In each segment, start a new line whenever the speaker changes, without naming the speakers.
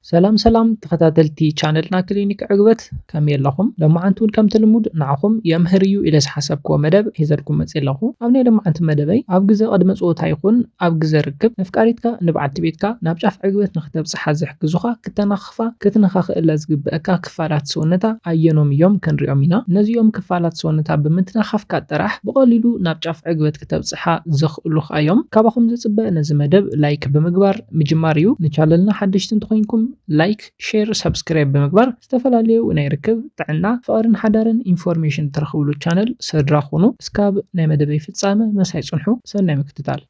ሰላም ሰላም ተኸታተልቲ ቻነልና ክሊኒክ ዕግበት ከመይ ኣለኹም? ሎማዓንቲ እውን ከምቲ ልሙድ ንዓኹም የምህር እዩ ኢለ ዝሓሰብክዎ መደብ ሒዘልኩም መፂ ኣለኹ። ኣብ ናይ ሎማዓንቲ መደበይ ኣብ ግዘ ቅድመ ፀወታ ይኹን ኣብ ግዘ ርክብ ነፍቃሪትካ ንባዓልቲ ቤትካ ናብ ጫፍ ዕግበት ንክተብፅሓ ዝሕግዙኻ ክተናኽፋ ክትነኻኽእላ ዝግበእካ ክፋላት ሰውነታ ኣየኖም እዮም ክንሪኦም ኢና። ነዚኦም ክፋላት ሰውነታ ብምትናኻፍካ ጥራሕ ብቐሊሉ ናብ ጫፍ ዕግበት ክተብጽሓ ዘኽእሉኽ ኣዮም። ካባኹም ዝጽበ ነዚ መደብ ላይክ ብምግባር ምጅማር እዩ። ንቻለልና ሓደሽቲ እንተኾይንኩም ላይክ ሼር ሳብስክራይብ ብምግባር ዝተፈላለዩ ናይ ርክብ፣ ጥዕና፣ ፍቕርን ሓዳርን ኢንፎርሜሽን ትረኽብሉ ቻነል ሰድራ ኩኑ። እስካብ ናይ መደበይ ፍጻመ መሳይ ጽንሑ። ሰናይ ምክትታል።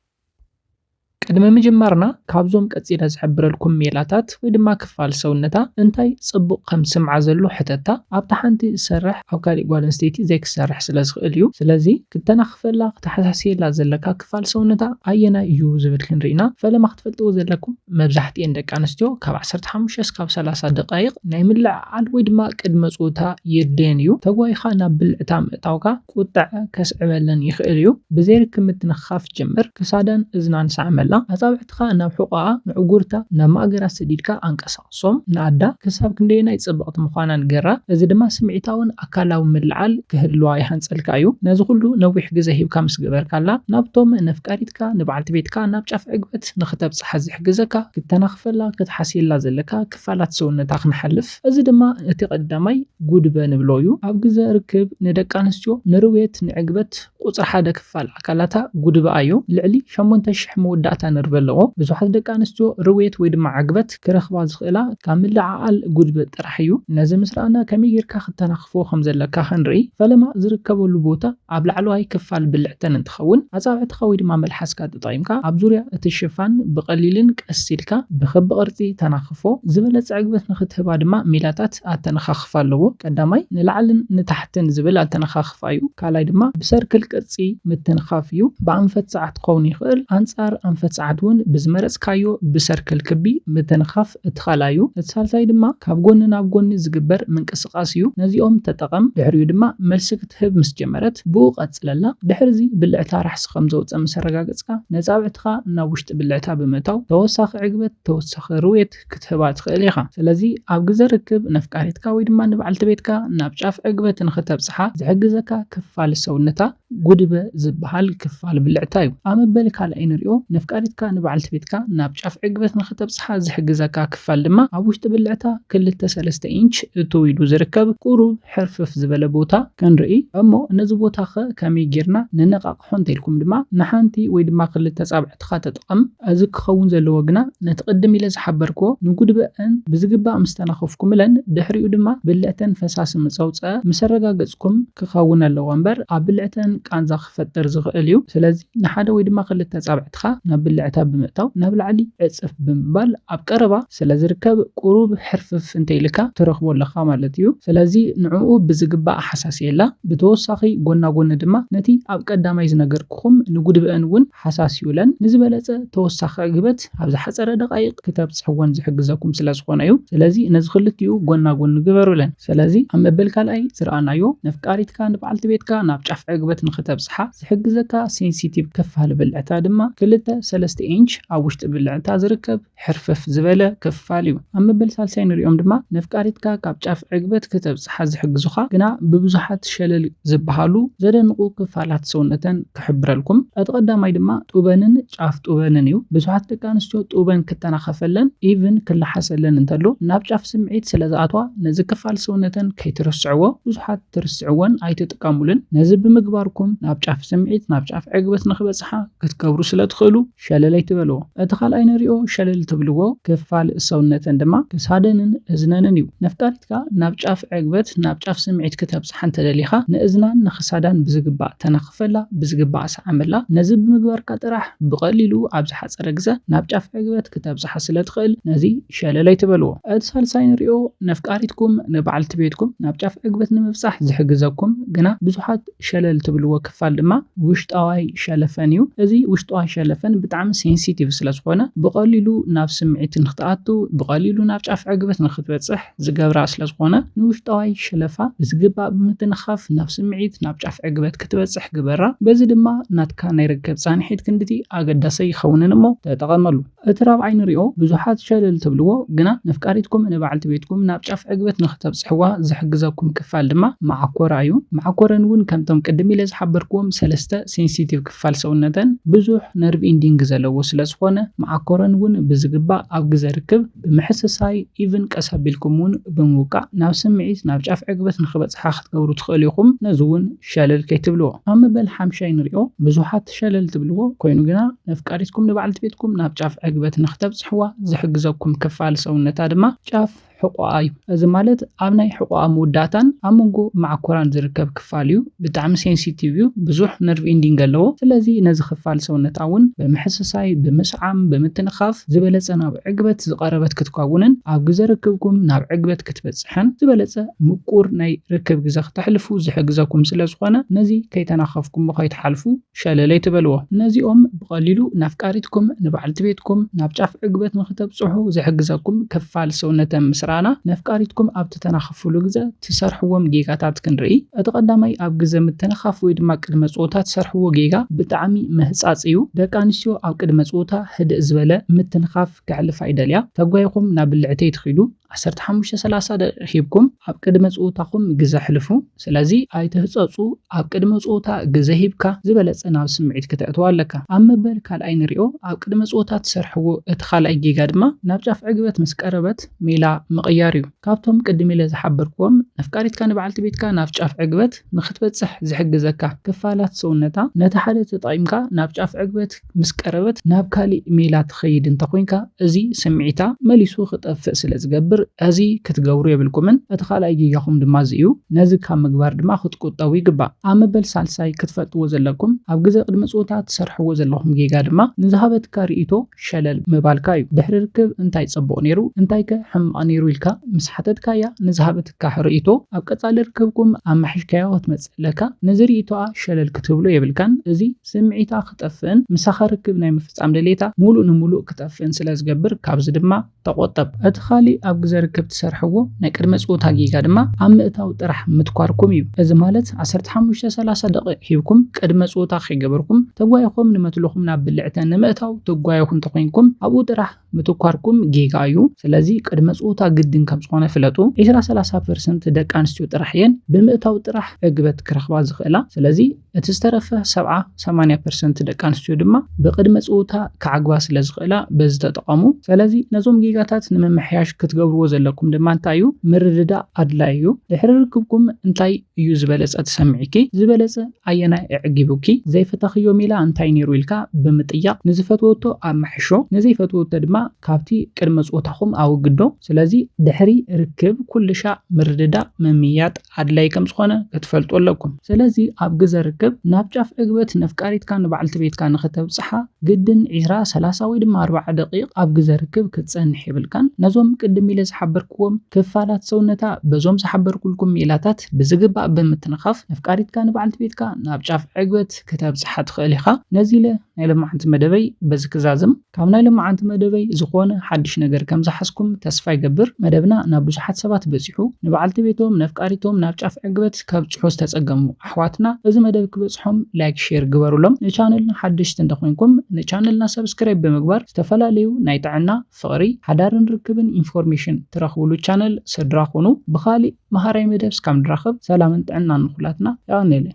ቅድሚ ምጅማርና ካብዞም ቀጺለ ዝሕብረልኩም ሜላታት ወይ ድማ ክፋል ሰውነታ እንታይ ጽቡቕ ከም ዝስምዓ ዘሎ ሕተታ ኣብታ ሓንቲ ዝሰርሕ ኣብ ካሊእ ጓል ኣንስተይቲ ዘይክሰርሕ ስለ ዝኽእል እዩ ስለዚ ክተናኽፈላ ክተሓሳስየላ ዘለካ ክፋል ሰውነታ ኣየናይ እዩ ዝብል ክንሪኢና ፈለማ ክትፈልጥዎ ዘለኩም መብዛሕቲኤን ደቂ ኣንስትዮ ካብ ዓሰርተ ሓሙሽተ እስካብ ሰላሳ ደቓይቕ ናይ ምልዕዓል ወይ ድማ ቅድመ ጾታ የድልየን እዩ ተጓይኻ ናብ ብልዕታ ምእታውካ ቁጠዐ ከስዕበለን ይኽእል እዩ ብዘይ ርክብ ምትንኻፍ ጀምር ክሳዳን እዝናን ሰዓመላ ኣጻብዕትኻ ናብ ሑቆኣ ምዕጉርታ ናብ ማእገራ ሰዲድካ ኣንቀሳቕሶም ንኣዳ ክሳብ ክንደየናይ ጽብቕቲ ምዃና ንገራ እዚ ድማ ስምዒታውን ኣካላውን ምልዕዓል ክህልዋ ይሃንጸልካ እዩ ነዚ ኩሉ ነዊሕ ግዘ ሂብካ ምስ ገበርካላ ናብቶም ነፍቃሪትካ ንበዓልቲ ቤትካ ናብ ጫፍ ዕግበት ንኽተብጽሓ ዝሕግዘካ ክተናኽፈላ ክትሓስየላ ዘለካ ክፋላት ሰውነታ ክንሓልፍ እዚ ድማ እቲ ቀዳማይ ጉድበ ንብሎ እዩ ኣብ ግዘ ርክብ ንደቂ ኣንስትዮ ንርውየት ንዕግበት ቁጽሪ ሓደ ክፋል ኣካላታ ጉድቢ ኣዩ። ልዕሊ ሸሞንተ ሽሕ መወዳእታ ነርቨ ኣለዎ። ብዙሓት ደቂ ኣንስትዮ ርውየት ወይ ድማ ዕግበት ክረኽባ ዝኽእላ ካብ ምልዕዓል ጉድቢ ጥራሕ እዩ። ነዚ ምስ ረኣና ከመይ ጌርካ ክተናኽፎ ከም ዘለካ ክንርኢ። ፈለማ ዝርከበሉ ቦታ ኣብ ላዕለዋይ ክፋል ብልዕተን እንትኸውን ኣጻብዕትኻ ወይ ድማ መልሓስካ ተጠቒምካ ኣብ ዙርያ እቲ ሽፋን ብቐሊልን ቀስ ኢልካ ብክቢ ቅርጺ ተናኽፎ። ዝበለጸ ዕግበት ንኽትህባ ድማ ሚላታት ኣተነኻኽፋ ኣለዎ። ቀዳማይ ንላዕልን ንታሕትን ዝብል ኣተነኻኽፋ። ምጥፋእ እዩ። ካልኣይ ድማ ብሰርክል ቅርጺ ምትንኻፍ እዩ። ብኣንፈት ሰዓት ክኸውን ይኽእል፣ ኣንጻር ኣንፈት ሰዓት እውን ብዝመረጽካዮ ብሰርክል ክቢ ምትንኻፍ እቲ ካልኣይ እዩ። እቲ ሳልሳይ ድማ ካብ ጎኒ ናብ ጎኒ ዝግበር ምንቅስቓስ እዩ። ነዚኦም ተጠቐም። ድሕሪኡ ድማ መልሲ ክትህብ ምስ ጀመረት ብኡ ቀጽለላ። ድሕሪዚ ብልዕታ ራሕሲ ከም ዘውጸ ምስ ኣረጋገጽካ ነጻብዕትኻ ናብ ውሽጢ ብልዕታ ብምእታው ተወሳኺ ዕግበት፣ ተወሳኺ ርውየት፣ ክትህባ ትኽእል ኢኻ። ስለዚ ኣብ ግዘ ርክብ ነፍቃሪትካ ወይ ድማ ንበዓልቲ ቤትካ ናብ ጫፍ ዕግበት ንኽተብፅሓ ዝሕግዘካ ክፋል ሰውነታ ጉድበ ዝበሃል ክፋል ብልዕታ ዩ። ኣብ መበል ካልኣይ ንሪኦ። ነፍቃሪትካ ንበዓልቲ ቤትካ ናብ ጫፍ ዕግበት ንኽተብፅሓ ዝሕግዘካ ክፋል ድማ ኣብ ውሽጢ ብልዕታ ክልተ ሰለስተ ኢንች እትው ኢሉ ዝርከብ ቁሩብ ሕርፍፍ ዝበለ ቦታ ክንርኢ። እሞ ነዚ ቦታ ከ ከመይ ጌርና ነነቓቕሖ እንተልኩም ድማ ንሓንቲ ወይ ድማ ክልተ ፃብዕታት ንብረትካ ተጠቐም። እዚ ክኸውን ዘለዎ ግና ነቲ ቅድም ኢለ ዝሓበርክዎ ንጉድበኣን ብዝግባእ ምስ ተናኸፍኩምለን ድሕሪኡ ድማ ብልዕተን ፈሳሲ ምስ ኣውጽኣ ምስ ኣረጋገጽኩም ክኸውን ኣለዎ እምበር ኣብ ብልዕተን ቃንዛ ክፈጥር ዝኽእል እዩ ስለዚ ንሓደ ወይ ድማ ክልተ ኣጻብዕትኻ ናብ ብልዕታ ብምእታው ናብ ላዕሊ ዕጽፍ ብምባል ኣብ ቀረባ ስለ ዝርከብ ቁሩብ ሕርፍፍ እንተ ኢልካ ትረኽቦ ኣለኻ ማለት እዩ ስለዚ ንዕኡ ብዝግባእ ኣሓሳስየላ ብተወሳኺ ጎና ጎኒ ድማ ነቲ ኣብ ቀዳማይ ዝነገርክኹም ንጉድበኣን እውን ሃሳስ ይብለን። ንዝበለጸ ተወሳኺ ዕግበት ኣብ ዝሓጸረ ደቓይቕ ክተብጽሕወን ዝሕግዘኩም ስለ ዝኾነ እዩ። ስለዚ ነዚ ክልቲኡ ጎና ጎኒ ግበሩለን። ስለዚ ኣብ መበል ካልኣይ ዝረኣናዮ ነፍቃሪትካ ንበዓልቲ ቤትካ ናብ ጫፍ ዕግበት ንኽተብጽሓ ዝሕግዘካ ሴንሲቲቭ ክፋል ብልዕታ ድማ ክልተ ሰለስተ ኢንች ኣብ ውሽጢ ብልዕታ ዝርከብ ሕርፈፍ ዝበለ ክፋል እዩ። ኣብ መበል ሳልሳይ ንሪኦም ድማ ነፍቃሪትካ ካብ ጫፍ ዕግበት ክተብጽሓ ዝሕግዙኻ ግና ብብዙሓት ሸለል ዝበሃሉ ዘደንቑ ክፋላት ሰውነተን ክሕብረልኩም። እቲ ቀዳማይ ድማ ጡበንን ጫፍ ጡበንን እዩ። ብዙሓት ደቂ ኣንስትዮ ጡበን ክተናኸፈለን ኢቭን ክለሓሰለን እንተሎ ናብ ጫፍ ስምዒት ስለዝኣትዋ ነዚ ክፋል ሰውነተን ከይትርስዕዎ ብዙሓት ትርስዕዎን ኣይትጥቀሙሉን። ነዚ ብምግባርኩም ናብ ጫፍ ስምዒት ናብ ጫፍ ዕግበት ንክበጽሓ ክትገብሩ ስለትኽእሉ። ሸለል ኣይትበልዎ። እቲ ካልኣይ ንሪኦ ሸለል ትብልዎ ክፋል ሰውነተን ድማ ክሳደንን እዝነንን እዩ። ነፍጣሪትካ ናብ ጫፍ ዕግበት፣ ናብ ጫፍ ስምዒት ክተብጽሓ እንተደሊኻ ንእዝናን ንክሳዳን ብዝግባእ ተናኽፈላ፣ ብዝግባእ ስዓመላ። ነዚ ብምግባርካ ጥራሕ ብቐሊሉ ኣብ ዝሓጸረ ግዘ ናብ ጫፍ ዕግበት ክተብጽሓ ስለትኽእል ነዚ ሸለል ኣይትበልዎ። እቲ ሳልሳይ ንሪኦ ነፍጣሪትኩም ንበዓልቲ ቤትኩም ናብ ጫፍ ዕግበት ንምብጻሕ ዝሕግዘኩም ግና ብዙሓት ሸለል ትብልዎ ክፋል ድማ ውሽጣዋይ ሸለፈን እዩ። እዚ ውሽጣዋይ ሸለፈን ብጣዕሚ ሴንሲቲቭ ስለ ዝኾነ ብቐሊሉ ናብ ስምዒት ንክትኣቱ ብቐሊሉ ናብ ጫፍ ዕግበት ንክትበፅሕ ዝገብራ ስለ ዝኾነ ንውሽጣዋይ ሸለፋ ብዝግባእ ብምትንኻፍ ናብ ስምዒት ናብ ጫፍ ዕግበት ክትበፅሕ ግበራ። በዚ ድማ ናትካ ናይ ርክብ ፃንሒት ክንድቲ ኣገዳሰይ ይኸውንን እሞ ተጠቐመሉ። እቲ ራብዓይ ንሪኦ ብዙሓት ሸለል ትብልዎ ግና ነፍቃሪትኩም ንበዓልቲ ቤትኩም ናብ ጫፍ ዕግበት ንኽተብጽሕዋ ዝሕግዘኩም ክፋል ድማ መዓኮራ እዩ። መዓኮረን እውን ከምቶም ቅድም ኢለ ዝሓበርክዎም ሰለስተ ሴንሲቲቭ ክፋል ሰውነተን ብዙሕ ነርቭ ኢንዲንግ ዘለዎ ስለ ዝኾነ መዓኮረን እውን ብዝግባእ ኣብ ግዘ ርክብ ብምሕስሳይ ኢቭን ቀስ ኣቢልኩም እውን ብምውቃዕ ናብ ስምዒት ናብ ጫፍ ዕግበት ንኽበጽሓ ክትገብሩ ትኽእሉ ኢኹም ነዚ እውን ሸለል ከይትብልዎ። ኣብ መበል ሓምሻይ ንሪኦ ብዙሓት። ሸለል ትብልዎ ኮይኑ ግና ነፍቃሪትኩም ንበዓልቲ ቤትኩም ናብ ጫፍ ዕግበት ንኽተብጽሕዋ ዝሕግዘኩም ክፋል ሰውነታ ድማ ጫፍ ሕቖኣ እዩ። እዚ ማለት ኣብ ናይ ሕቖኣ መወዳእታን ኣብ መንጎ መዓኮራን ዝርከብ ክፋል እዩ። ብጣዕሚ ሴንሲቲቭ እዩ፣ ብዙሕ ነርቭ ኢንዲንግ ኣለዎ። ስለዚ ነዚ ክፋል ሰውነታ እውን ብምሕስሳይ፣ ብምስዓም፣ ብምትንኻፍ ዝበለጸ ናብ ዕግበት ዝቐረበት ክትከውንን ኣብ ግዘ ርክብኩም ናብ ዕግበት ክትበጽሕን። ሓንቲ ዝበለጸ ምቁር ናይ ርክብ ግዘ ክተሕልፉ ዝሕግዘኩም ስለ ዝኾነ ነዚ ከይተናኸፍኩሞ ከይትሓልፉ ሸለል ኣይትበልዎ። ነዚኦም ብቐሊሉ ንኣፍቃሪትኩም፣ ንበዓልቲ ቤትኩም ናብ ጫፍ ዕግበት ንኽተብጽሑ ዝሕግዘኩም ክፋል ሰውነተ ምስ ረኣና ነፍቃሪትኩም ኣብ ትተናኸፍሉ ግዘ ትሰርሕዎም ጌጋታት ክንርኢ። እቲ ቀዳማይ ኣብ ግዘ ምትንኻፍ ወይ ድማ ቅድመ ጸወታ ትሰርሕዎ ጌጋ ብጣዕሚ ምህጻጽ እዩ። ደቂ ኣንስትዮ ኣብ ቅድመ ጸወታ ህድእ ዝበለ ምትንኻፍ ከሕልፋ ይደልያ። ተጓይኹም ናብ ብልዕተይ ትኺዱ። ዓሰርተ ሓሙሽተ ሰላሳ ደቂቅ ሂብኩም ኣብ ቅድመ ጹውታኹም ግዘ ኣሕልፉ ስለዚ ኣይትህጸጹ ኣብ ቅድመ ጹውታ ግዘ ሂብካ ዝበለጸ ናብ ስምዒት ክተእትዋ ኣለካ ኣብ መበል ካልኣይ ንሪኦ ኣብ ቅድመ ጹውታ ትሰርሕዎ እቲ ካልኣይ ጌጋ ድማ ናብ ጫፍ ዕግበት ምስ ቀረበት ሜላ ምቕያር እዩ ካብቶም ቅድም ኢለ ዝሓበርክዎም ነፍቃሪትካ ንበዓልቲ ቤትካ ናብ ጫፍ ዕግበት ንኽትበጽሕ ዝሕግዘካ ክፋላት ሰውነታ ነቲ ሓደ ተጠቒምካ ናብ ጫፍ ዕግበት ምስ ቀረበት ናብ ካሊእ ሜላ ትኸይድ እንተኾይንካ እዚ ስምዒታ መሊሱ ክጠፍእ ስለ ዝገብር እዚ ክትገብሩ የብልኩምን እቲ ካልኣይ ጌጋኹም ድማ እዚ እዩ ነዚ ካብ ምግባር ድማ ክትቁጠቡ ይግባእ ኣብ መበል ሳልሳይ ክትፈልጥዎ ዘለኩም ኣብ ግዘ ቅድመ ፆታ ትሰርሕዎ ዘለኹም ጌጋ ድማ ንዝሃበትካ ሪኢቶ ሸለል ምባልካ እዩ ድሕሪ ርክብ እንታይ ፀቡቅ ነይሩ እንታይከ ሕማቅ ነይሩ ኢልካ ምስ ሓተትካያ ንዝሃበትካሕ ሪኢቶ ኣብ ቀፃሊ ርክብኩም ኣማሒሽካዮ ክትመፅእ ለካ ነዚ ሪኢቶኣ ሸለል ክትብሎ የብልካን እዚ ስምዒታ ክጠፍእን ምሳኻ ርክብ ናይ ምፍጻም ድሌታ ሙሉእ ንሙሉእ ክጠፍእን ስለ ዝገብር ካብዚ ድማ ተቖጠብ። እቲ ካሊእ ኣብ ግዘ ርክብ ትሰርሕዎ ናይ ቅድመ ጸወታ ጌጋ ድማ ኣብ ምእታው ጥራሕ ምትኳርኩም እዩ። እዚ ማለት ዓሰርተ ሓሙሽተ ሰላሳ ደቒቕ ሂብኩም ቅድመ ጸወታ ከይገበርኩም ተጓይኹም ንመትልኹም ናብ ብልዕተ ንምእታው ትጓየኹ እንተኾይንኩም ኣብኡ ጥራሕ ምትኳርኩም ጌጋ እዩ ስለዚ ቅድመ ጾታ ግድን ከም ዝኮነ ፍለጡ ዒስራ ሰላሳ ፐርሰንት ደቂ ኣንስትዮ ጥራሕ እየን ብምእታው ጥራሕ ዕግበት ክረክባ ዝክእላ ስለዚ እቲ ዝተረፈ ሰብዓ ሰማንያ ፐርሰንት ደቂ ኣንስትዮ ድማ ብቅድመ ጾታ ክዓግባ ስለ ዝክእላ በዚ ተጠቀሙ ሰለዚ ነዞም ጌጋታት ንምምሕያሽ ክትገብርዎ ዘለኩም ድማ እንታይ እዩ ምርድዳእ ኣድላይ እዩ ድሕሪ ርክብኩም እንታይ እዩ ዝበለጸ ትሰምዒኪ ዝበለጸ ኣየናይ ኣዕጊቡኪ ዘይፈተኽዮ ሚላ እንታይ ኔሩ ኢልካ ብምጥያቕ ንዝፈትወቶ ኣማሕሾ ንዘይፈትወቶ ድማ ካብቲ ቅድመ ጾታኹም ኣወግዶ ስለዚ ድሕሪ ርክብ ኩልሻዕ ምርድዳእ ምምይያጥ ኣድላይ ከም ዝኾነ ክትፈልጡ ኣለኩም ስለዚ ኣብ ግዘ ርክብ ናብ ጫፍ ዕግበት ነፍቃሪትካ ንባዕልቲ ቤትካ ንኽተብጽሓ ግድን ዕስራ፣ ሰላሳ ወይ ድማ ኣርባዓ ደቒቕ ኣብ ግዘ ርክብ ክትፀንሕ የብልካን። ነዞም ቅድም ኢለ ዝሓበርክዎም ክፋላት ሰውነታ በዞም ዝሓበርኩልኩም ሜላታት ብዝግባእ ብምትንኻፍ ነፍቃሪትካ ንበዓልቲ ቤትካ ናብ ጫፍ ዕግበት ክተብፅሓ ትኽእል ኢኻ። ነዚ ኢለ ናይ ሎማዓንቲ መደበይ በዚ ክዛዝም። ካብ ናይ ሎማዓንቲ መደበይ ዝኾነ ሓዱሽ ነገር ከም ዝሓዝኩም ተስፋ ይገብር። መደብና ናብ ብዙሓት ሰባት በፂሑ። ንበዓልቲ ቤቶም ነፍቃሪቶም ናብ ጫፍ ዕግበት ከብፅሑ ዝተፀገሙ፣ ኣሕዋትና እዚ መደብ ክበጽሖም ላይክ ሼር ግበሩሎም ንቻነልና ሓደሽቲ እንተኮንኩም ንቻነልና ሰብስክራይብ ብምግባር ዝተፈላለዩ ናይ ጥዕና ፍቅሪ ሓዳርን ርክብን ኢንፎርሜሽን ትረክብሉ ቻነል ስድራ ኩኑ ብካሊእ መሃራይ መደብ እስካብ ንራከብ ሰላምን ጥዕናን ንኩላትና የቀኔለይ።